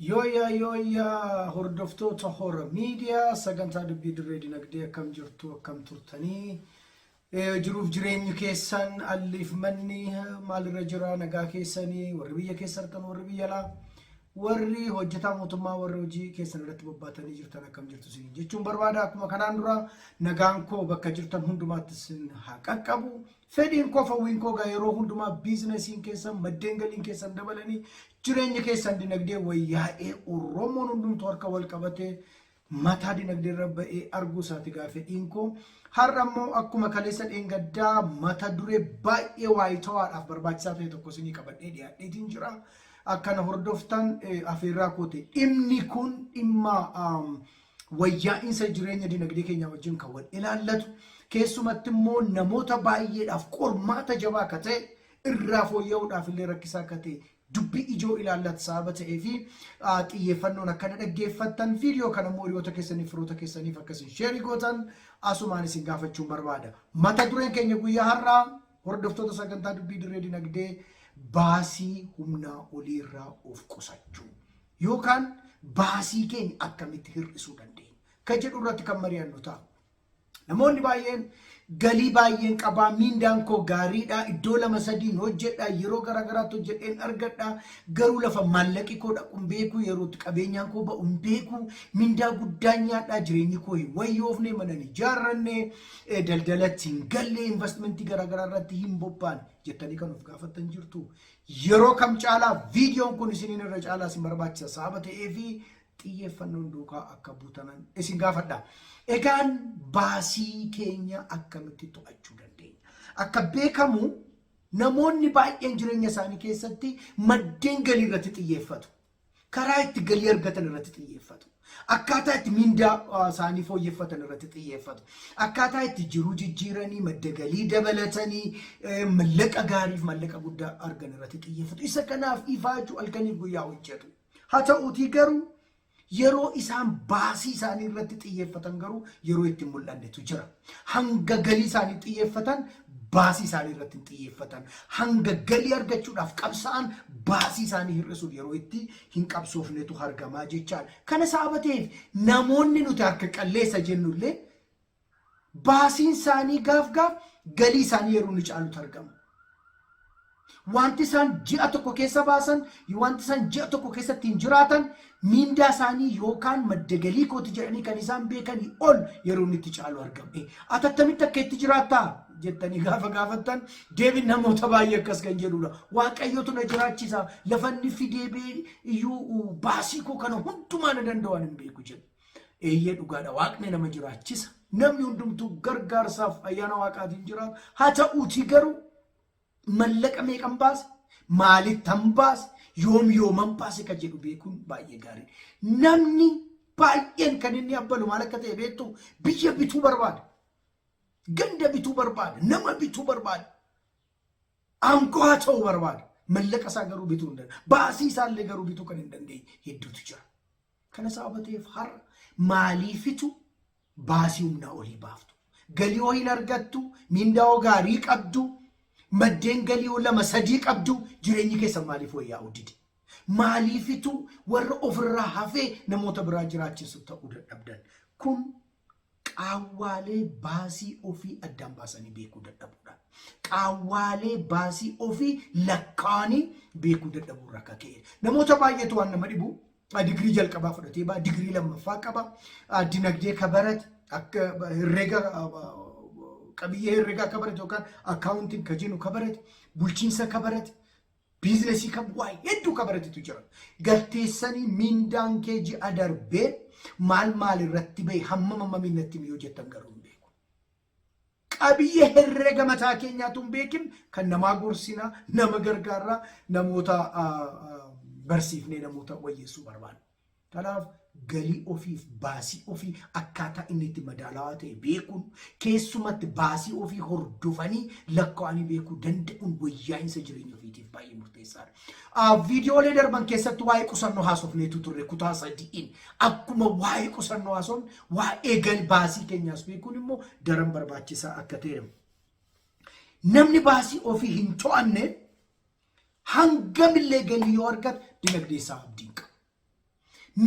Yooyaa yooyaa hordoftoota hora miidiyaa sagantaa dubbii dirree dinagdee akkam jirtu akkam turtanii Jiruuf jireenyi keessan alliif manni maalirra jira nagaa keessanii warri biyya keessa argatan warri biyya alaa warri hojjetaa mootummaa warri hojii keessan irratti bobbaatanii jirtan akkam jirtu isin jechuun barbaada akkuma kanaan dura nagaan koo bakka jirtan hundumaatti isin haa qaqqabu fedhiin koo fawwiin koo gaa yeroo hundumaa biizinasiin keessan maddeen galiin keessan dabalanii jireenya keessan dinagdee wayyaa'ee oromoon hundumtuu harka wal qabatee mataa dinagdee irra ba'ee arguu isaati gaa fedhiin koo. Har'a immoo akkuma kaleessa dheengaddaa mata duree baay'ee waayitawaadhaaf barbaachisaa ta'e tokko isinii qabadhee dhiyaadheetiin jira. Akka na hordoftan eh, afeerraa koote. Dhimni kun dhimma um, wayyaa'insa jireenya dinagdee keenyaa wajjin kan wal ilaallatu keessumatti immoo namoota baay'eedhaaf qormaata jabaa akka ta'e irraa fooyya'uudhaaf illee rakkisaa akka ta'e dubbii ijoo ilaallatu sababa ta'ee fi xiyyeeffannoon akka na dhaggeeffattan viidiyoo kana immoo hiriyoota keessaniif firoota keessaniif akka isin sheerii gootan asumaan isin gaafachuun barbaada. Mata dureen keenya guyyaa har'aa hordoftoota sagantaa dubbii dirree dinagdee baasii humnaa olii irraa of qusachuu yookaan baasii keenya akkamitti hir'isuu dandeenya kan jedhu irratti kan mari'annu ta'a. Namoonni baay'een galii baay'een qabaa, miindaan koo gaariidha, iddoo lama sadiin hojjedha, yeroo garaagaraatti hojjedheen argadha, garuu lafa maallaqi koo dhaqu hin beeku, yerootti qabeenyaan koo ba'u hin beeku, mindaa guddaa nyaadhaa, jireenyi koo hin wayyoofne, mana hin ijaarranne, eh, daldalatti hin galle, investimentii garaagaraa irratti hin bobbaan jettanii kan of gaafattan jirtu. Yeroo kam caalaa viidiyoon kun isiniin irra caalaa isin barbaachisa sababa ta'eefi xiyyeeffannoon duukaa akka buutanan isin gaafadha. Egaan baasii keenya akkamitti to'achuu dandeenya? Akka beekamu namoonni baay'een jireenya isaanii keessatti maddeen galii irratti xiyyeeffatu. Karaa itti galii argatan irratti xiyyeeffatu. Akkaataa itti mindaa uh, isaanii fooyyeffatan irratti xiyyeeffatu. Akkaataa itti jiruu jijjiiranii, madda galii dabalatanii, eh, mallaqa gaariif mallaqa guddaa argan irratti xiyyeeffatu. Isa kanaaf ifaajuu halkaniif guyyaa hojjetu. Haa ta'uutii garuu yeroo isaan baasii isaanii irratti xiyyeeffatan garuu yeroo itti hin mul'annetu jira. Hanga galii isaanii xiyyeeffatan baasii isaanii irratti hin xiyyeeffatan. Hanga galii argachuudhaaf qabsa'an baasii isaanii hir'isuuf yeroo itti hin qabsoofnetu argamaa jechaadha. Kana sababa ta'eef namoonni nuti harka qalleessa jennullee baasiin isaanii gaaf gaaf galii isaanii yeroo inni caalutu argama. Wanti isaan ji'a tokko keessa baasan, wanti isaan ji'a tokko keessa ittiin jiraatan, miindaa isaanii yookaan madda galii kooti jedhanii kan isaan beekanii ol yeroo inni itti caalu argama. Eh, Ati attamitti akka itti jiraattaa jettanii gaafa gaafattan deebiin namoota baay'ee akkas kan jedhudha. Waaqayyotu na jiraachisa, lafa inni fidee bee iyyuu baasii koo kana hundumaa na danda'u ani hin beeku jedhu. Eeyyee dhugaadha waaqni nama jiraachisa. Namni hundumtuu gargaarsaaf ayyaana waaqaatiin jiraata. Haa ta'uutii garuu mallaqa meeqan baase maalittan baase yoom yooman baase kan jedhu beekuun baay'ee gaariidha. Namni baay'een kan inni abbalu maal akka ta'e beektu biyya bituu barbaada. Ganda bituu barbaada. Nama bituu barbaada. Aangoo haa ta'u barbaada. Mallaqa isaa garuu bituu hin dandeenye. Baasii isaa illee garuu bituu kan hin dandeenye hedduutu jira. Kana sababa ta'eef har'a maaliifitu baasii humnaa olii baaftu? Galii hoo hin argattu? Miindaa hoo gaarii qabdu? Maddeen galii hoo lama sadii qabdu? Jireenyi keessan maaliif wayyaa'uu dide? Maaliifitu warra ofirraa hafee namoota biraa jiraachisu ta'uu dadhabdan? Kun Qaawwaalee baasii ofii addaan baasanii beekuu dadhabuudha. Qaawwaalee baasii ofii lakkaa'anii beekuu dadhabuu irraa akka ka'e. Namoota baay'eetu waan nama dhibu digirii jalqabaa fudhatee ba'a, digirii lammaffaa qaba, dinagdee akka barate, akka herrega qabiyyee herregaa akka barate yookaan akkaawuntiin ka jennu ka barate, bulchiinsa ka barate, Biizinasii kan waa hedduu kan baratitu jira. Galteessanii miindaan kee ji'a darbee maal maal irratti bahe hammam hammam innatti miyoo jettan garuu hin beeku. Qabiyyee herrega mataa keenyaatu hin beekin kan namaa gorsinaa, nama gargaarraa, namoota ah, ah, barsiifnee namoota wayyeessuu barbaanna. Kanaaf galii ofiif baasii ofii akkaataa inni itti madaalawaa ta'e beekuun keessumatti baasii ofii hordofanii lakkaa'anii beekuu danda'uun wayyaa'insa jireenya ofiitiif baay'ee murteessaadha. Ah, Viidiyoolee darban keessatti waa'ee qusannoo haasofneetu turre kutaa sadi'iin akkuma waa'ee qusannoo haasofne waa'ee gal baasii keenyaas beekuun immoo daran barbaachisaa akka ta'e Namni baasii ofii hin to'anne Hangamillee galii yoo argate dinagdee isaa abdii hin qabu.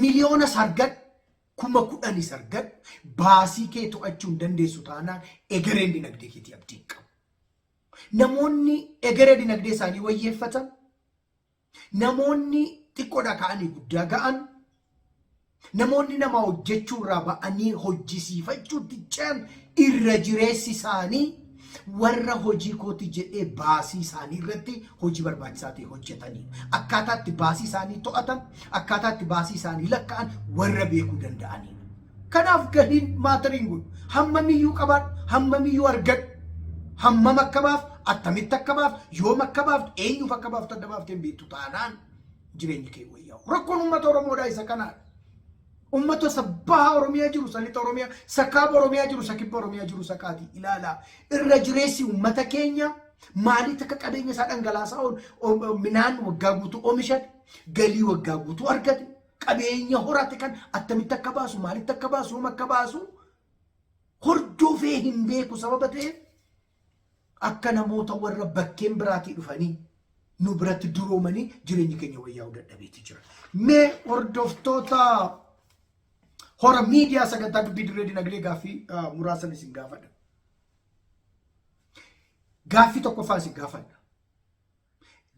Miliyoonas argadhu, kuma kudhanis argadhu, baasii kee to'achuu hin dandeessu taanaan egereen dinagdee keetii abdii hin qabu. Namoonni egeree dinagdee isaanii wayyeeffatan, namoonni xiqqoodhaa ka'anii guddaa ga'an, Namoonni namaa hojjechuu irraa ba'anii hojjisiifachuutti ce'an irra jireessi isaanii warra hojii kooti jedhee baasii isaanii irratti hojii barbaachisaa ta'e hojjetanii akkaataa itti baasii isaanii to'atan akkaataa itti baasii isaanii lakka'an warra beekuu danda'anii. Kanaaf galiin maatariin godhu hammamiyyuu qabaadhu hammamiyyuu argadhu hammam akka baaf attamitti akka baaf yoom akka baaftu eenyuuf akka baaftu adda baafteen beektu taanaan jireenyi kee wayyaa'u. Rakkoon uummata Oromoodhaa isa kanaadha. Uummata isa baha Oromiyaa jiru, isa lixa Oromiyaa, isa kaaba Oromiyaa jiru, isa kibba Oromiyaa jiru isa kaati ilaalaa. Irra jireessi uummata keenya maalitti akka qabeenya isaa dhangalaasaa oolu Om- midhaan waggaa guutuu oomishate, galii waggaa guutuu argate, qabeenya horate kan attamitti akka baasu, maalitti akka baasu, yoom akka baasu hordofee hin beeku sababa ta'eef Akka namoota warra bakkeen biraatii dhufanii nu biratti duroomanii jireenyi keenya wayyaa'uu dadhabeeti jira. Mee hordoftoota hora miidiyaa sagantaa dubbii dirree dinagdee gaaffii ah, muraasan isin gaafadha. Gaaffii tokkoffaa isin gaafadha.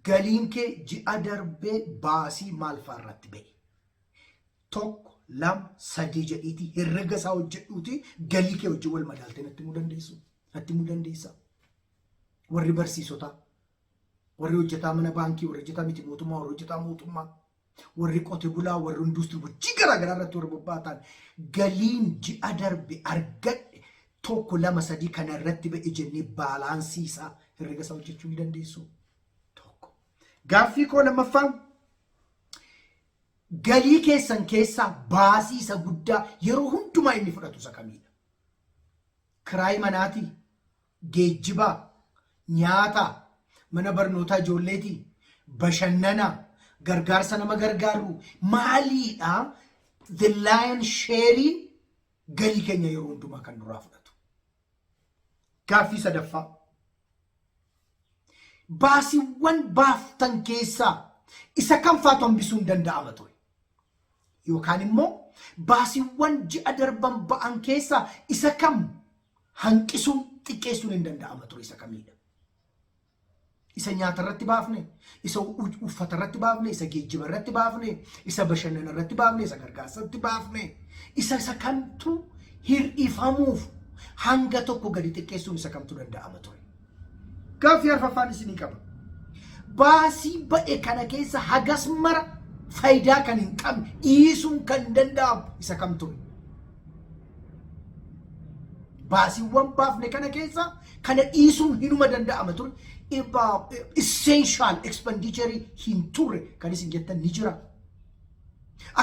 Galiin kee ji'a darbee baasii maal fa'aa irratti ba'e? tokko, lama, sadii jedhiitii herrega isaa hojjedhuutii galii kee wajjin wal madaaltee natti himuu dandeessu. Natti himuu dandeessa. Warri barsiisotaa, warri hojjetaa mana baankii, warri hojjetaa miti mootummaa, warri hojjetaa mootummaa, warri qote bulaa, warri industirii hojii garaa garaa irratti warri bobba'atan galiin ji'a darbe argadhe tokko lama sadii kana irratti ba'e jennee baalaansii isaa herrega isaa hojjechuu ni dandeessu. Tokko. Gaaffii koo lammaffaa Galii keessan keessaa baasii isa guddaa yeroo hundumaa inni fudhatu isa kamiidha? Kiraayii manaatii? Geejjibaa? Nyaataa? Mana barnootaa ijoolleetii? Bashannanaa? Gargaarsa nama gargaarru? Maaliidha the lion sheeriin galii keenya yeroo hundumaa kan nurraa fudhatu? Gaaffii sadaffaa. Baasiiwwan baaftan keessaa isa kam faatu hambisuun danda'ama ture? Yookaan immoo baasiiwwan ji'a darban ba'an keessaa isa kam hanqisuun xiqqeessuun hin danda'ama ture isa kamiidha? Isa nyaata irratti baafne, isa uffata irratti baafne, isa geejjiba irratti baafne, isa bashannana irratti baafne, isa gargaarsa irratti baafne, isa isa kamtu hir'ifamuuf hanga tokko gadi xiqqeessuun isa kamtu danda'ama ture. Gaaffii arfaffaan isinii qaba. Baasii ba'e kana keessa hagas mara faayidaa kan hin qabne dhiisuun kan danda'amu isa kam ture? Baasiiwwan baafne kana keessaa kana dhiisuun hinuma danda'ama ture. Essential expenditure hin turre kan isin jettan ni jira.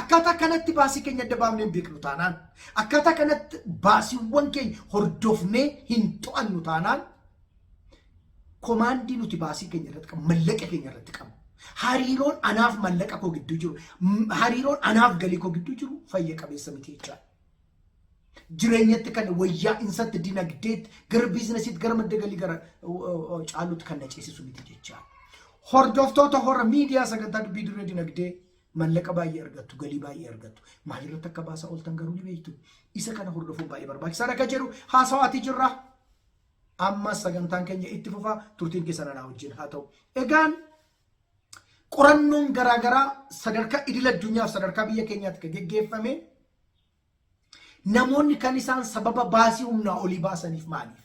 Akkaataa kanatti baasii keenya adda baafnee hin beeknu taanaan, akkaataa kanatti baasiiwwan keenya hordofnee hin to'annu taanaan, Komaandii nuti baasii keenya irratti qabnu, mallaqa keenya irratti qabnu, hariiroon anaaf mallaqa koo gidduu jiru, m- hariiroon anaaf galii koo gidduu jiru fayya qabeessa miti jechaadha. Jireenyatti kan wayyaa insatti dinagdeetti gara biizinasiitti gara madda galii gara o- o- o- caaluutti kan na ceesisu miti jechaadha. Hordoftoota hora miidiyaa sagantaa dubbii dirree dinagdee mallaqa baay'ee argattu, galii baay'ee argattu. Maalirratti akka baasaa ooltan garuu ni beektu. Isa kana hordofuun baay'ee barbaachisaadha kan jedhu haasawaatii jirra. Ammas sagantaan keenya itti fufa turtiin keessan anaa wajjin haa ta'u. Egaan qorannoon garaagaraa sadarkaa idil addunyaaf sadarkaa biyya keenyaatti kan geggeeffame namoonni kan isaan sababa baasii humnaa olii baasaniif maaliif?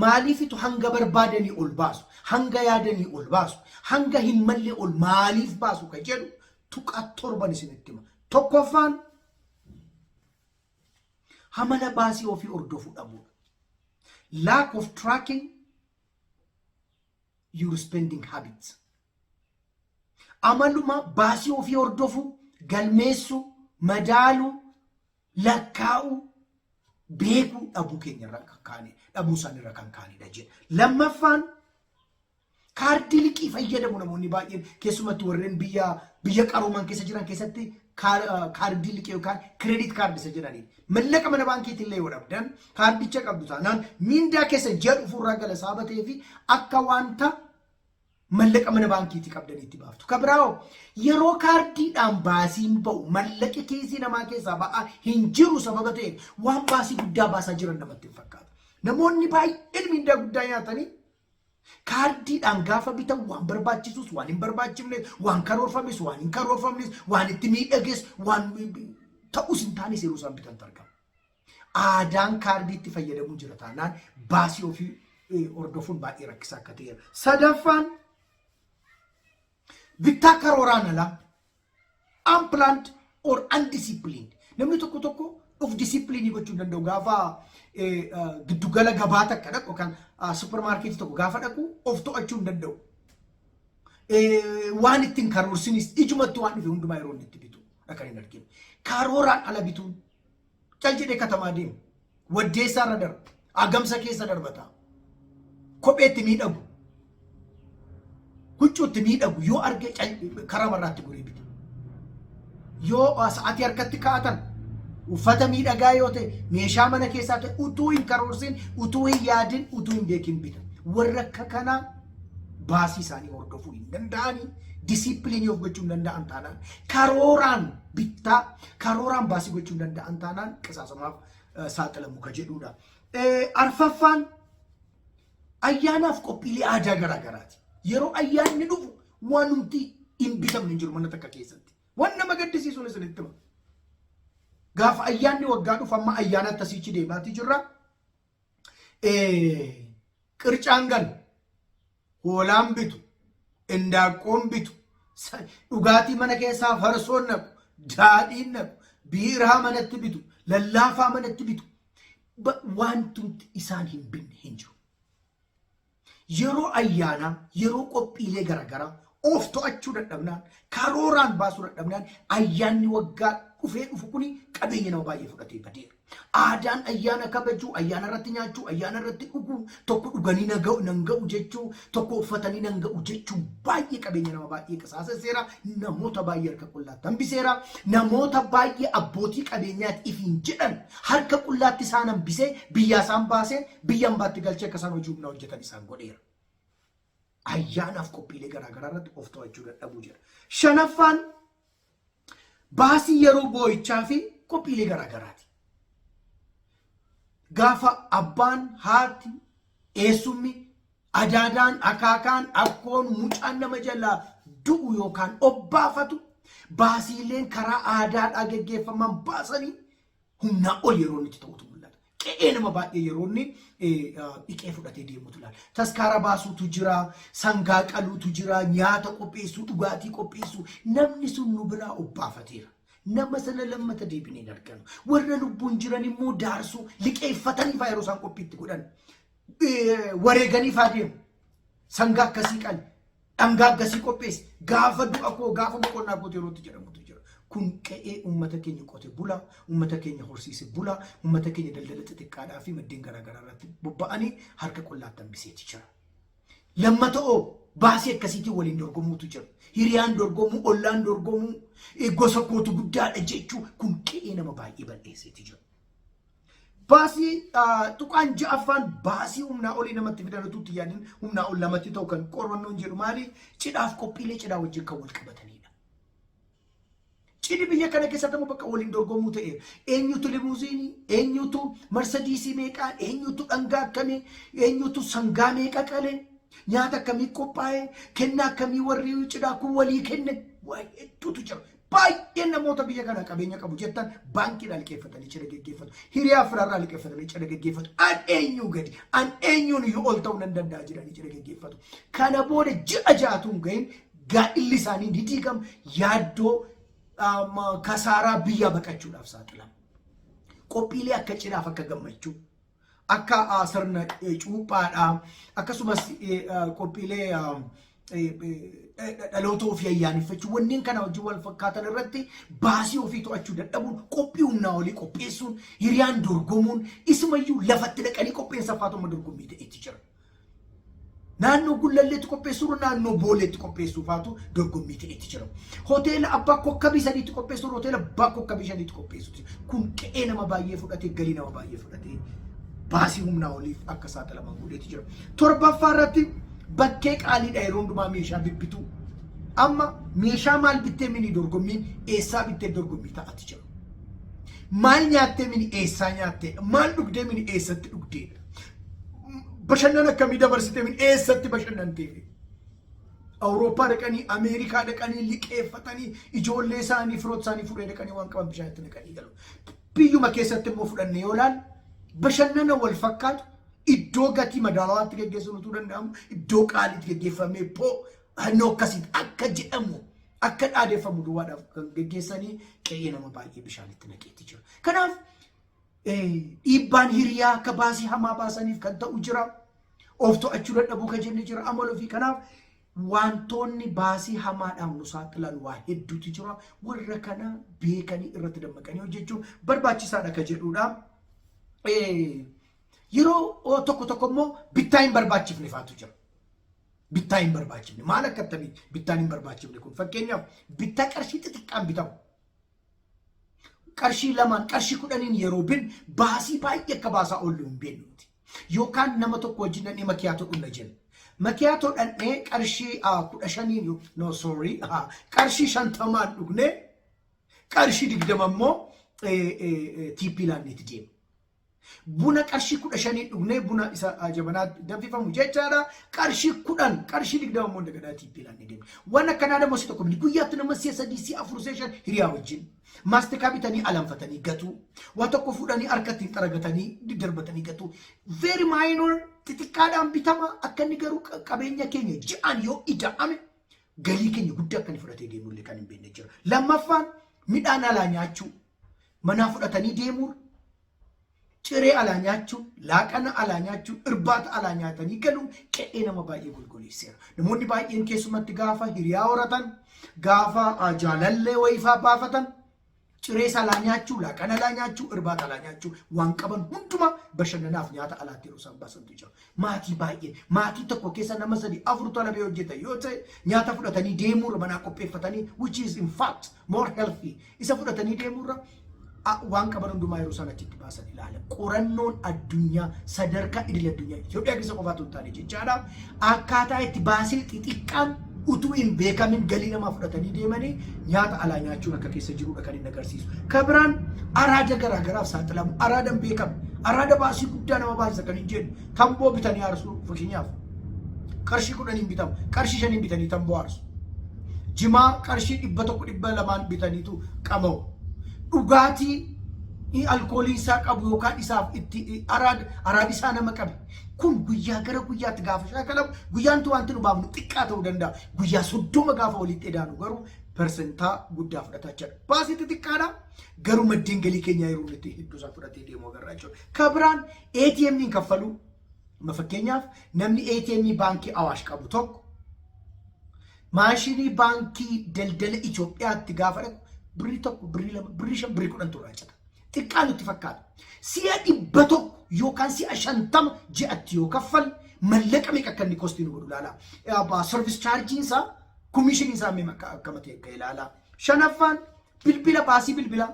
Maaliifitu hanga barbaadanii ol baasu? Hanga yaadanii ol baasu? Hanga hin malle ol maaliif baasu kan jedhu tuqaa torban isinitti hima. Tokkoffaan Hamala baasii ofii hordofuu dhabuudha. Lack of tracking your spending habits. Amaluma baasii ofii hordofuu, galmeessuu, madaaluu, lakkaa'uu, beekuu dhabuu keenya irra kan kaane dhabuu isaanii irra kan kaanidha jedha. Lammaffaan Kaardii liqii fayyadamu namoonni baay'een keessumattuu warreen biyya biyya qarooman keessa jiran keessatti kaardii liqii yookaan kireedit kaardii isa jedhaniin mallaqa mana baankiitiin illee yoo dhabdan kaardicha qabdu taanaan miindaa keessa ji'a dhufuurraa gala isaa batee fi akka wanta mallaqa mana baankiitii qabdaniitti baaftu. Ka biraawoo yeroo kaardiidhaan baasiin ba'u mallaqi kiisii namaa keessaa ba'aa hin jiru sababa ta'eef waan baasii guddaa baasaa jiran namatti hin fakkaatu. Namoonni baay'een miindaa guddaa nyaatanii Kaardiidhaan gaafa bitan waan barbaachisus, waan hin barbaachifnes, waan karoorfames, waan hin karoorfamnes, waan itti miidhages, waan ta'us hin taanes yeroo isaan bitantu argama. Aadaan kaardiitti fayyadamuun jira taanaan baasii ofii eh, hordofuun baay'ee rakkisaa akka ta'eera. Sadaffaan bittaa karooraan alaa unplanned or undisciplined namni tokko tokko of disciplinii gochuu hin danda'u gaafa giddugala gabaa takka dhaqu yookaan supermarketii tokko gaafa dhaqu of to'achuu hin danda'u. Waan ittiin karoorsinis ijumatti waan dhufe hundumaa yeroo inni itti bitu akka hin arginu. Karooraan ala bituun cal jedhee katamaa deemu. Waddeessaa irra darba. Agamsa keessa darbata. Kopheetti miidhagu. Huccuutti miidhagu yoo arge cal- karaa marraatti goree bita. Yoo sa'atii harkatti kaa'atan uffata miidhagaa yoo ta'e meeshaa mana keessaa ta'e utuu hin karoorsin utuu hin yaadin utuu hin beekin bita. Warra akka kanaa baasii isaanii hordofuu hin danda'anii disiipiliinii of gochuu hin danda'an taanaan karooraan bittaa karooraan baasii gochuu hin danda'an taanaan qisaasamaaf saaxilamu ka jedhuudha. Arfaffaan ayyaanaaf qophiilee aadaa garaa garaati. Yeroo ayyaanni dhufu waan nuti hin bitamne hin jiru mana takka keessatti. Waan nama gaddisiisuun isinitti hima. Gaafa ayyaanni waggaa dhufu amma ayyaana akkasiichi deemaatii jirra. qircaan galu hoolaan bitu indaaqqoon bitu dhugaatii mana keessaa farsoon naqu daadhiin naqu biiraa manatti bitu lallaafaa manatti bitu wantumti isaan hin binne hin jiru. Yeroo ayyaanaa, yeroo qophiilee garagaraa of to'achuu dadhabnaan, karooraan baasuu dadhabnaan ayyaanni waggaa dhufee dhufu kuni qabeenya nama baay'ee fudhatee badeera. Aadaan ayyaana kabajuu, ayyaana irratti nyaachuu, ayyaana irratti dhuguu, tokko dhuganii na ga'u- nan ga'u jechuu, tokko uffatanii nan ga'u jechuu baay'ee qabeenya nama baay'ee qisaasesseera, namoota baay'ee harka qullaatti hambiseera, namoota baay'ee abbootii qabeenyaati ifiin jedhan harka qullaatti isaan hambisee biyyaa isaan baasee biyya ambaatti galchee akka isaan hojii humnaa hojjetan isaan godheera. Ayyaanaaf qophiilee garaagaraa irratti of to'achuu dadhabuu jedha. Shanaffaan baasii yeroo boo'ichaa fi qophiilee garaagaraati. Gaafa abbaan, haati, eessummi, adaadaan, akaakaan, akkoon, mucaan nama jalaa du'u yookaan obbaafatu baasiileen karaa aadaadhaa geggeeffaman baasanii humnaa ol yeroo inni itti ta'utu mul'ata. Qe'ee nama baay'ee yeroo inni dhiqee fudhatee deemutu ilaala. Taskaara baasuutu jira, sangaa qaluutu jira, nyaata qopheessuu, dhugaatii qopheessuu. Namni sun nu biraa obbaafateera. Nama sana lammata deebinee hin arganu. Warra lubbuun jiran immoo daarsuu liqeeffatanii faa yeroo isaan qophiitti godhan wareeganii faa deemu. Sangaa akkasii qali. Dhangaa akkasii qopheessi. Gaafa du'a koo gaafa boqonnaa kootii yerootti jedhamutu jira. Kun qe'ee uummata keenya qote bulaa, uummata keenya horsiise bulaa, uummata keenya daldala xixiqqaadhaa fi maddeen garaagaraa irratti bobba'anii harka qullaatti hambiseeti jira. Lammata'oo baasii akkasiitiin waliin dorgomuutu jira. Hiriyaan dorgomuu, ollaan dorgomuu, gosa kootu guddaadha jechuu kun qe'ee nama baay'ee bal'eesseeti jira. Baasii tuqaan ja'affaan baasii humnaa olii namatti fidan utuu itti yaadin humnaa ol namatti ta'u kan qorannoon jedhu maali? Cidhaaf qophiilee cidhaa wajjin kan wal qabatanidha. Cidhi biyya kana keessatti ammoo bakka waliin dorgomuu ta'e eenyutu limuuziinii, eenyutu marsadiisii meeqaa, eenyutu dhangaa akkamii, eenyutu sangaa meeqa qalee, nyaata akkamii qophaa'ee, kennaa akkamii warri cidhaa kun walii kenne waa hedduutu jira. Baay'een namoota biyya kana qabeenya qabu jettan baankiidhaan liqeeffatanii cidha geggeeffatu. Hiriyaa firaarraa liqeeffatanii cidha geggeeffatu. An eenyuu gadi, an eenyuun iyyuu ol ta'uu nan danda'a jedhanii cidha geggeeffatu. Kana booda ji'a ja'atuun ga'in gaa'illi isaanii ni diigama. Yaaddoo um, kasaaraa biyyaa baqachuudhaaf saaxilama. Qophiilee akka cidhaaf akka gammachuu Akka sirna cuuphaadhaa akkasumas qophiilee dhaloota ofii ayyaaneffachuu wanneen kana wajjin wal fakkaatan irratti baasii ofii to'achuu dadhabuun qophii humnaa olii qopheessuun hiriyaan dorgomuun isumayyuu lafatti dhaqanii qopheessa faatumma dorgommii ta'etti jira. Naannoo Gullalleetti qopheessuurra naannoo Booleetti qopheessuufaatu dorgommii ta'etti jira. Hoteela abbaa kokkabii sadiitti qopheessuurra hoteela abbaa kokkabii shaniitti qopheessuutti jira. Kun qe'ee nama baay'ee fudhatee galii nama baay'ee fudhatee baasii humnaa oliif akka saaxilaman godheeti jira. Torbaffaa irratti bakkee qaaliidha yeroo hundumaa meeshaa bibbituu. Amma meeshaa maal bittee mini dorgommii eessaa bittee dorgommii ta'ati jira. Maal nyaattee mini eessaa nyaattee maal dhugdee mini eessatti dhugdeedha. Bashannan akkamii dabarsitee min eessatti bashannanteefi? Awurooppaa dhaqanii Ameerikaa dhaqanii liqeeffatanii ijoollee isaanii firoota isaanii fuudhee dhaqanii waan qaban bishaan itti naqanii galu. Biyyuma keessatti immoo fudhannee yoo ilaalu bashannana wal fakkaatu iddoo gatii madaalawaatti geggeessuun utuu danda'amu iddoo qaaliitti geggeeffamee poo hannoo akkasiin akka jedhamu akka dhaadeffamu duwwaadhaaf kan geggeessanii qe'ee nama baay'ee bishaan itti naqeetti jira. Kanaaf dhiibbaan hiriyaa akka baasii hamaa baasaniif kan ta'u jira. Of to'achuu dadhabuu kan jenne jira amala ofii kanaaf wantoonni baasii hamaadhaan nu saaxilan waa hedduutu jira. Warra kana beekanii irratti dammaqanii hojjechuun barbaachisaadha kan jedhudha. Yeroo tokko tokko immoo bittaa hin barbaachifne faatu jira. Bittaa hin barbaachifne maal akka akkamii bittaan hin barbaachifne kun fakkeenyaaf bittaa qarshii xixiqqaan bitamu. qarshii lamaan qarshii kudhaniin yeroo bin baasii baay'ee akka baasaa oollu hin beeknu nuti. Yookaan nama tokko wajjin dhannee makiyaatoo dhunna jenna. Makiyaatoo dhannee qarshii ah, kudha shaniin yo- no sorry ah, qarshii shantamaan dhugnee qarshii digdama immoo eh, eh, eh, tiippii laanneeti deema. Buna qarshii kudha shanii dhugnee buna isa ah, jabanaa danfifamu jechaadha. Qarshii kudhan qarshii digdama immoo dagadhaa tiippii laannee deemne. Waan akkanaa dammoo si tokko guyyaatti nama si'a sadii si'a afur si'a shan hiriyaa wajjin. Maastikaa bitanii alanfatanii gatuu. Waa tokko fuudhanii harkatti hin xaragatanii diddarbatanii gatuu. Very minor xixiqqaadhaan bitama akka inni garuu qa- qabeenya keenya ji'aan yoo ida'ame galii keenya guddaa akka inni fudhatee deemullee kan hin beekne jira. Lammaffaan midhaan alaa nyaachuu manaa fudhatanii deemuun ciree alaa nyaachuun, laaqana alaa nyaachuun, irbaata alaa nyaatanii galuun qe'ee nama baay'ee golgoleesseera. Namoonni baay'een keessumatti gaafa hiriyaa horatan, gaafa ah, jaalallee wayifaa baafatan, ciree salaa nyaachuu, laaqana alaa nyaachuu, irbaata alaa nyaachuu waan qaban hundumaa bashannanaaf nyaata alaatti yeroo isaan baasantu jira. Maatii baay'ee, maatii tokko keessa nama sadii, afur tana bee hojjetan yoo ta'e nyaata fudhatanii deemuurra manaa qopheeffatanii which is in fact more healthy isa fudhatanii deemuurra a- waan qaban hundumaa yeroo isaan achitti baasan ilaala. Qorannoon addunyaa sadarkaa idil addunyaa Itoophiyaa keessa qofaatu hin taane jechaadha. Akkaataa itti baasii xixiqqaan utuu hin beekamin galii namaa fudhatanii deemanii nyaata alaa nyaachuun akka keessa jirudha kan inni agarsiisu. Kan biraan araada garaa garaaf saaxilamu, araada hin beekamne, araada baasii guddaa nama baasisa kan hin jenne, tamboo bitanii aarsu fakkeenyaaf. Qarshii kudhaniin bitamu, qarshii shaniin bitanii tamboo aarsu. Jimaa qarshii dhibba tokko dhibba lamaan bitaniitu qama'u. Dhugaatii alkooliin isaa qabu yookaan isaaf itti araada isaa nama qabe. Kun guyyaa gara guyyaatti gaafa shaakalamu guyyaantu wanti nu baafnu xiqqaa ta'uu danda'a. Guyyaa soddoma gaafa walitti edaanu garuu persentaa guddaa fudhata jechuudha. Baasii xixiqqaadha garuu maddeen galii keenyaa yeroo nuti hedduu isaa fudhatee deemu agarra jechuudha. Kan biraan ATM'n kaffaluu Ma fakkeenyaaf namni ATM baankii Awaash qabu tokko maashinii baankii daldala Itoophiyaatti gaafa dhaqu birrii tokko, birrii lama, birrii shan, birrii kudhan turraa cita. Xiqqaa nutti fakkaata. Si'a dhibba tokko yookaan si'a shantama ji'atti yoo kaffalle mallaqa meeqa akka inni kostii nu godhu ilaalaa. Abbaa sarvis chaarjiin isaa komiishiniin isaa meeqa akka akkama ta'e akka ilaalaa. Shanaffaan bilbila baasii bilbilaa.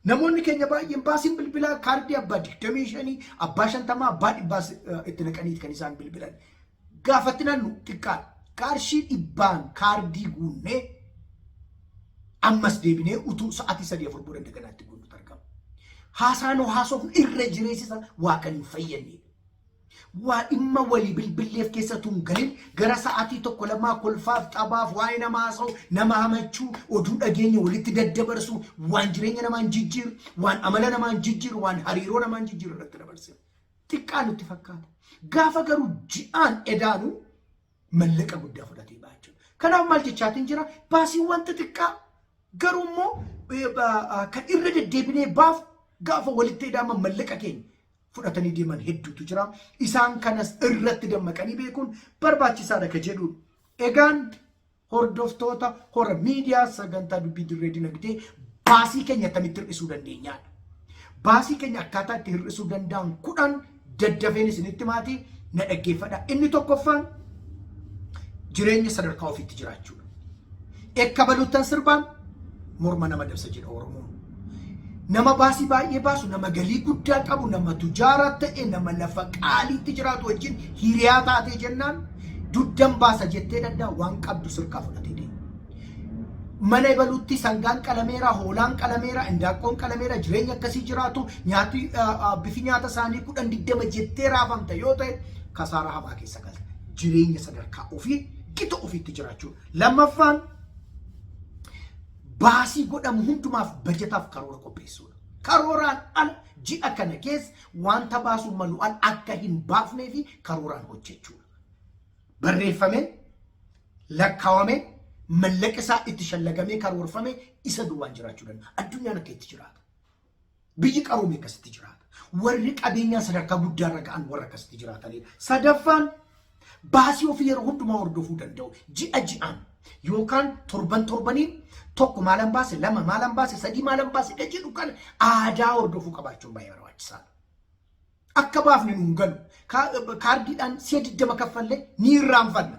Namoonni keenya baay'een baasiin bilbilaa kaardii abbaa digdamii shanii abbaa shantamaa abbaa dhibbaas eh, itti naqaniiti kan isaan bilbilan. gaafatti nannu xiqqaan qarshii dhibbaan kaardii guunnee ammas deebinee utuu sa'aatii sadii afur booda daganaa itti guunnutu argama. Haasaan haasofnu irra jireessisa waa kan hin fayyadne. Waa dhimma walii bilbilleef keessa tun galin gara sa'aatii tokko lamaa kolfaaf taphaaf waa'ee nama haasa'u nama hamachuu oduu dhageenya walitti daddabarsu waan jireenya namaan jijjiiru waan amala namaan jijjiiru waan hariiroo namaan jijjiiru irratti dabarsina. xiqqaa nutti fakkaata. Gaafa garuu ji'aan edaanu mallaqa guddaa fudhatee ba'a jechuudha. Kanaaf maal jechaatiin jira? Baasiin wanta xiqqaa garuu immoo kan irra deddeebinee baaf gaafa walitti edaama mallaqa keenya fudhatanii deeman hedduutu jira. Isaan kanas irratti dammaqanii beekuun barbaachisaadha ka jedhu. Egaan hordoftoota hora miidiyaa sagantaa dubbii dirree dinagdee baasii keenya akkamitti hir'isuu dandeenyaadha. Baasii keenya akkaataa itti hir'isuu danda'an kudhan daddafeen isinitti maatii na dhaggeeffadha. Inni tokkoffaan jireenya sadarkaa ofiitti jiraachuudha. Ekka baluttan sirbaan morma nama dabsa jedha Oromoon. Nama baasii baay'ee baasu, nama galii guddaa qabu, nama tujaaraa ta'e, nama lafa qaaliitti jiraatu wajjin hiriyaa taatee jennaan dugdan baasa jettee danda'a waan qabdu sirkaa fudhatee deema. Mana ibaluutti sangaan qalameera, hoolaan qalameera, indaaqqoon qalameera, jireenya akkasii jiraatu, nyaati bifi nyaata isaanii kudhan digdama jettee raafamta yoo ta'e kasaaraa hamaa keessa galta. Jireenya sadarkaa ofii gita ofiitti jiraachuun. Lammaffaan baasii godhamu hundumaaf bajataaf karoora qopheessuudha. Karooraan ala ji'a kana keessa wanta baasuun malu ala akka hin baafnee fi karooraan hojjechuudha. Barreeffamee, lakkaawamee, mallaqa isaa itti shallagamee karoorfame isa duwwaan jiraachuu danda'a. Addunyaan akka itti jiraatu. Biyyi qaroome akkasitti jiraata. Warri qabeenyaa sadarkaa guddaarra ga'an warra akkasitti jiraatanidha. Sadaffaan baasii ofii yeroo hundumaa hordofuu danda'u ji'a ji'aan yookaan torban torbaniin tokko maalan baase lama maalan baase sadii maalan baase jedhu kana aadaa hordofuu qabaachuun baay'ee barbaachisaadha. Akka baafne nu hin galu. Kaa- Kaardiidhaan si'a 20 kaffalle ni irraanfanna.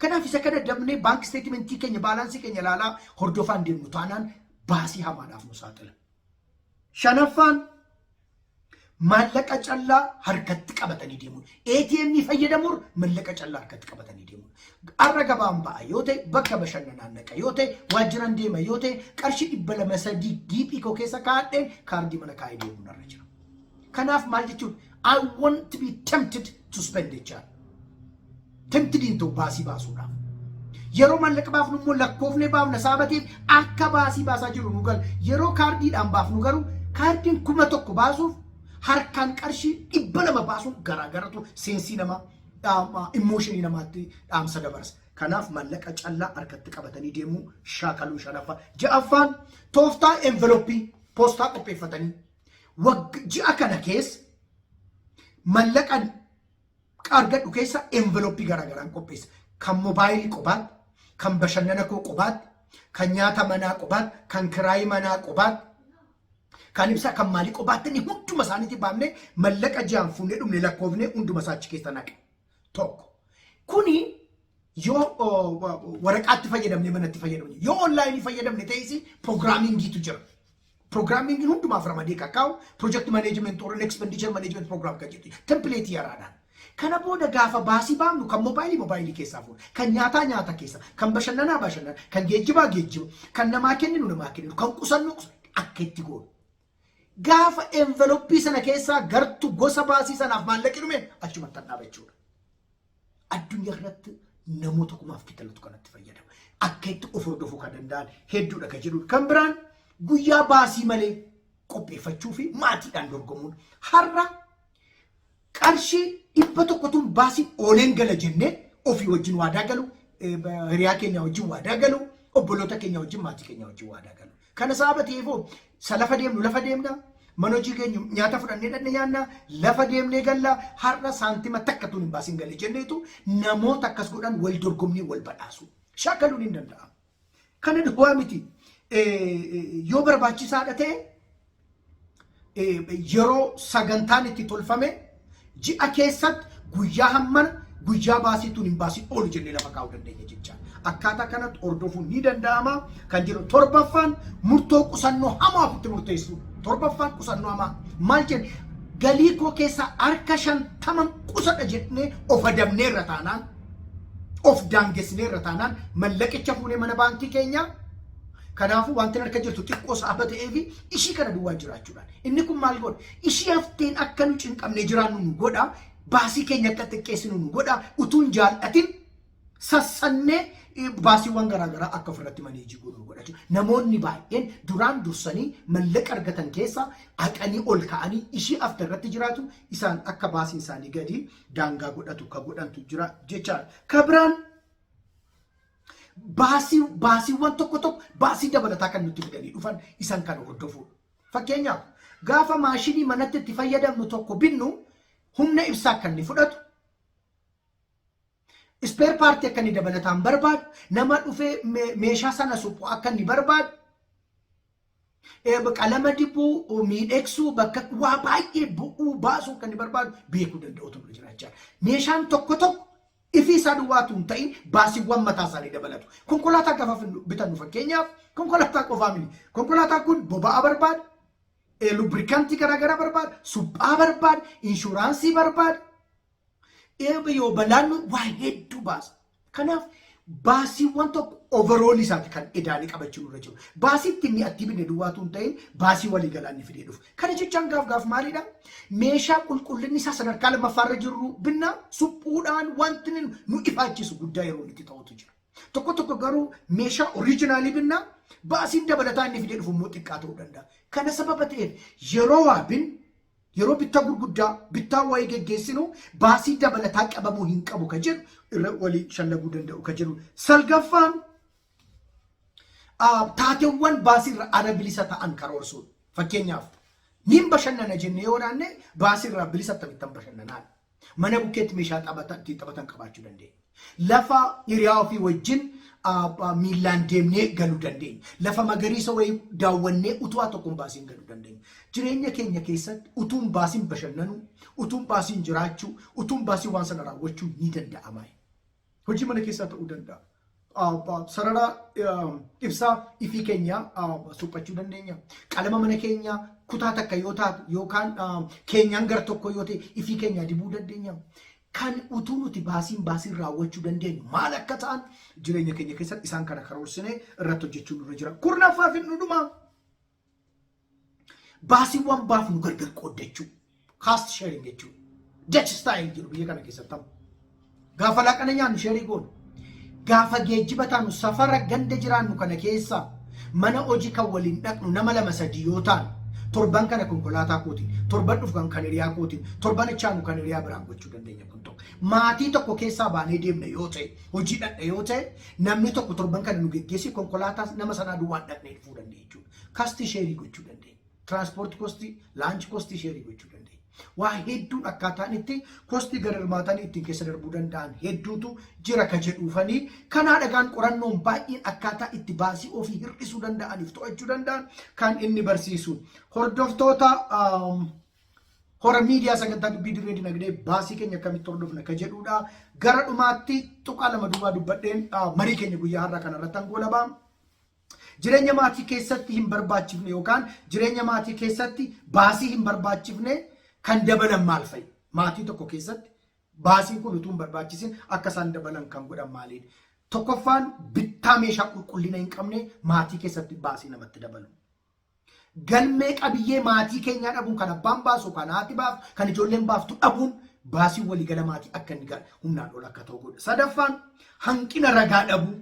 Kanaaf isa kana dabnee baank isteetimentii keenya baalaansii keenya ilaalaa hordofaa hin deemnu taanaan baasii hamaadhaaf nu saaxila. Shanaffaan maallaqa callaa harkatti qabatanii deemuun ATM fayyadamuun maallaqa callaa harkatti qabatanii deemuun har'a gabaan ba'a yoo ta'e bakka bashannanaan naqa yoo ta'e waajjiraan deema yoo ta'e qarshii dhibba lama sadii giiphii koo keessa kaa'adheen kaardii mana kaa'ee deemuun irra jira. Kanaaf maal jechuun I want to be tempted to spend jechaa. Tempted hin ta'u baasii baasuudhaaf. Yeroo maallaqa baafnu immoo lakkoofnee baafna sababa ta'eef akka baasii baasaa jiru nu gala. Yeroo kaardiidhaan baafnu garuu kaardiin kuma tokko baasuuf harkaan qarshii dhibba lama baasuun garaagaratu seensii namaa dhaama immooshinii namaatti dhaamsa dabarsa. Kanaaf maallaqa callaa harkatti qabatanii deemuu shaakaluu shanaffaa. Ja'affaan tooftaa enveloppii poostaa qopheeffatanii ji'a kana keessa mallaqan argadhu keessa enveloppii garaagaraan qopheessa. Kan mobaayilii qobaatti, kan bashannana koo qobaatti, kan nyaata manaa qobaatti, kan kiraayii manaa qobaatti, kan ibsaa kan maalii qobaatti inni hunduma isaaniitti baafnee mallaqa ji'aan fuunee dhumne lakkoofnee hunduma isaa achi keessa naqa. Tokko. Kuni yoo waraqaatti fayyadamne manatti fayyadamne yoo onlaayinii fayyadamne ta'es piroogiraamiingiitu jira. Piroogiraamiingiin hundumaaf ramadee kan kaa'u pirojekti maneejimenti warreen ekspendiichar maneejimenti piroogiraam kan jedhu tempileetii yaraadhaan. Kana booda gaafa baasii baafnu kan moobaayilii moobaayilii keessaa fuudha. Kan nyaataa nyaata keessa, kan bashannanaa bashannana, kan geejjibaa geejjiba, kan namaa kenninu namaa kenninu, kan qusannu akka itti goonu. Gaafa enveloppii sana keessaa gartu gosa baasii sanaaf maallaqi dhume achumatti hadhaaba jechuudha. Addunyaa kanatti namoota kumaaf kitalatu kanatti fayyadama. Akka itti of hordofuu kan danda'an hedduudha kan jedhu. Kan biraan guyyaa baasii malee qopheeffachuu fi maatiidhaan dorgomuun har'a qarshii dhibba tokkotuun baasii ooleen gala jennee ofii wajjin waadaa galu, hiriyaa keenya wajjin waadaa galu, obboloota keenya wajjin maatii keenya wajjin waadaa galu. Kana saabatiifuu sa lafa deemnu lafa deemna mana hojii keenya nyaata fudhannee dhanne nyaanna lafa deemnee galla har'a saantima takka tun hin baasin galle jenneetu namoota akkas godhan wal dorgomnii wal badhaasu shaakaluun hin danda'amu. Kana duwwaa miti yoo barbaachisaadha ta'e yeroo sagantaan itti tolfame ji'a keessatti guyyaa hammana guyyaa baasiituun hin baasin oolu jennee lafa kaa'uu dandeenya jecha. Akkaataa kanatti hordofuun ni danda'ama kan jedhu torbaffaan murtoo qusannoo hamaa ofitti murteessu. Torbaffaan qusannoo hamaa maal jenna? Galii koo keessaa harka shantaman qusadha jennee of adabnee irra taanaan of daangessinee irra taanaan mallaqicha fuunee mana baankii keenyaa Kanaafuu wantin harka jirtu xiqqoo saaba ta'ee fi ishii kana duwwaan jiraachuudhaan. Inni kun maal godha? Ishii hafteen akka nu cinqamnee jiraannu nu godha. Baasii keenya akka xiqqeessinu nu godha. Utuu hin jaallatin sassannee eh, baasiiwwan garaagaraa akka ofirratti maneejii godhu nu godha jechuudha. Namoonni baay'een duraan dursanii mallaqa argatan keessaa haqanii ol ka'anii ishii hafte irratti jiraatu isaan akka baasiin isaanii gadi daangaa godhatu ka godhantu jira jechaadha. Ka biraan baasii baasiiwwan tokko tokko baasii dabalataa kan nutti fidanii dhufan isan kan hordofuudha. Fakkeenyaaf gaafa maashinii manatti itti fayyadamnu tokko binnu humna ibsaa akka inni fudhatu ispeer paartii akka inni dabalataan barbaadu nama dhufee meeshaa sana suphu akka inni barbaadu qalama dibuu, miidhegsuu, bakka waa baay'ee bu'uu baasuu kan barbaadu beekuu danda'utu nurra jira jechaadha. Meeshaan tokko tokko ifii isaa duwwaatu hin ta'in baasiiwwan mataa isaanii dabalatu. Konkolaataa gafa bitannu fakkeenyaaf konkolaataa qofaa miti. Konkolaataan kun boba'aa barbaada, lubrikantii garaagaraa barbaada, suphaa barbaada, inshuraansii barbaada. Eebba yoo balaannu waa hedduu baasa. Kanaaf baasiiwwan tokko overall isaati kan edaanii qabachuu nurra jiru. Baasii ittiin mi'attii binne duwwaatu hin ta'in baasii walii galaa inni fidee dhufu. Kana jechaan gaaf gaaf maalidha? Meeshaa qulqullinni isaa sadarkaa lammaffaa irra jirru binna suphuudhaan wanti nu nu ifaachisu guddaa yeroo inni itti ta'utu jira. Tokko tokko garuu meeshaa oriijinaalii binna baasiin dabalataa inni fidee dhufu immoo xiqqaa ta'uu danda'a. Kana sababa ta'eef yeroo waa binnu Yeroo bittaa gurguddaa bittaa wayii geggeessinu baasii dabalataa qabamuu hin qabu ka jedhu irra walii shallaguu danda'u ka jedhu. Salgaffaan taateewwan baasiirra ala bilisa ta'an karoorsuudha. Fakkeenyaaf niin bashannana jennee yoo naanne baasiirraa bilisa akkamittan bashannanaa Mana bukkeetti meeshaa taphata ittiin taphatan qabaachuu dandeenya. Lafa hiriyaa ofii wajjin miillaan deemnee galuu dandeenya. Lafa magariisa wayii daawwannee utuu waa tokko hin baasiin galuu dandeenya. Jireenya keenya keessatti utuu hin baasiin bashannanuu, utuu hin baasiin jiraachuu, utuu hin baasiin waan sana raawwachuun ni danda'ama. Hojii mana keessaa ta'uu danda'a. Sarara ibsaa ifii keenyaa suphachuu dandeenya. Qalama mana keenyaa kutaa takka yoo taate yookaan keenyaan gar tokko yoo ta'e ifii keenyaa dibuu dandeenya. Kan utuu nuti baasiin baasiin raawwachuu dandeenyu maal akka ta'an jireenya keenya keessatti isaan kana karoorsinee irratti hojjechuun nurra jira. Kurnaffaa fi dhudhumaa. Baasiiwwan baafnu gargar qooddachuu. Cost sharing jechuun. Dutch style jiru biyya kana keessatti ta'u. Gaafa laaqana nyaannu sheerii goonu. Gaafa geejjiba taanu safara ganda jiraannu kana keessa mana hojii kan waliin dhaqnu nama lama sadii yoo taanu torban kana konkolaataa kootiin torban dhufu kan hiriyaa kootiin torban itti aanu kan hiriyaa biraan gochuu dandeenya kun tokko. Maatii tokko keessaa baanee deemna yoo ta'e hojii dhaqna yoo ta'e namni tokko torban kana nu geggeessi konkolaataa nama sanaa duwwaan dhaqnee dhufuu dandeenya. jechuudha. Kastii sheerii gochuu dandeenya. Tiraanspoortii kostii, laanchi kostii sheerii gochuu dandeenya. Waa hedduun akkaataan itti kostii gad hirmaatanii ittiin keessa darbuu danda'an hedduutu jira ka jedhuufanii kanaa dhagaan qorannoon baay'een akkaataa itti baasii ofii hir'isuu danda'aniif to'achuu danda'an kan inni barsiisu. Hordoftoota hora miidiyaa sagantaa dubbii dirree dinagdee baasii keenya akkamitti hordofna ka jedhuudha. Gara dhumaatti tuqaa lama duubaa dubbadheen marii keenya guyyaa har'aa kanarratti hangoolabaa. Jireenya maatii keessatti hin barbaachifne yookaan jireenya maatii keessatti baasii hin barbaachifne kan dabalan maal fa'i? Maatii tokko keessatti baasiin kun utuu hin barbaachisin akka isaan dabalan kan godhan maaliidha? Tokkoffaan bittaa meeshaa qulqullina hin qabne maatii keessatti baasii namatti dabalu. Galmee qabiyyee maatii keenyaa dhabuun kan abbaan baasu, kan haati baaftu, kan ijoolleen baaftu dhabuun baasiin waliigala maatii akka inni humnaan ol akka ta'u godha. Sadaffaan hanqina ragaa dhabuu.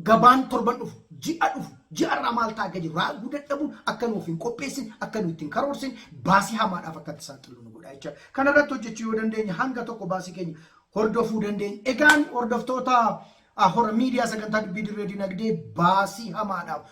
gabaan torban dhufu ji'a dhufu ji'a irraa maal ta'a akka jiru raaguu dadhabuun akka nuuf hin qopheessin akka nu ittiin karoorsin baasii hamaadhaaf akka itti saaxilu nu godha jecha kana irratti hojjechuu yoo dandeenye hanga tokko baasii keenya hordofuu dandeenya egaan hordoftoota hora miidiyaa sagantaa dubbii dirree dinagdee baasii hamaadhaaf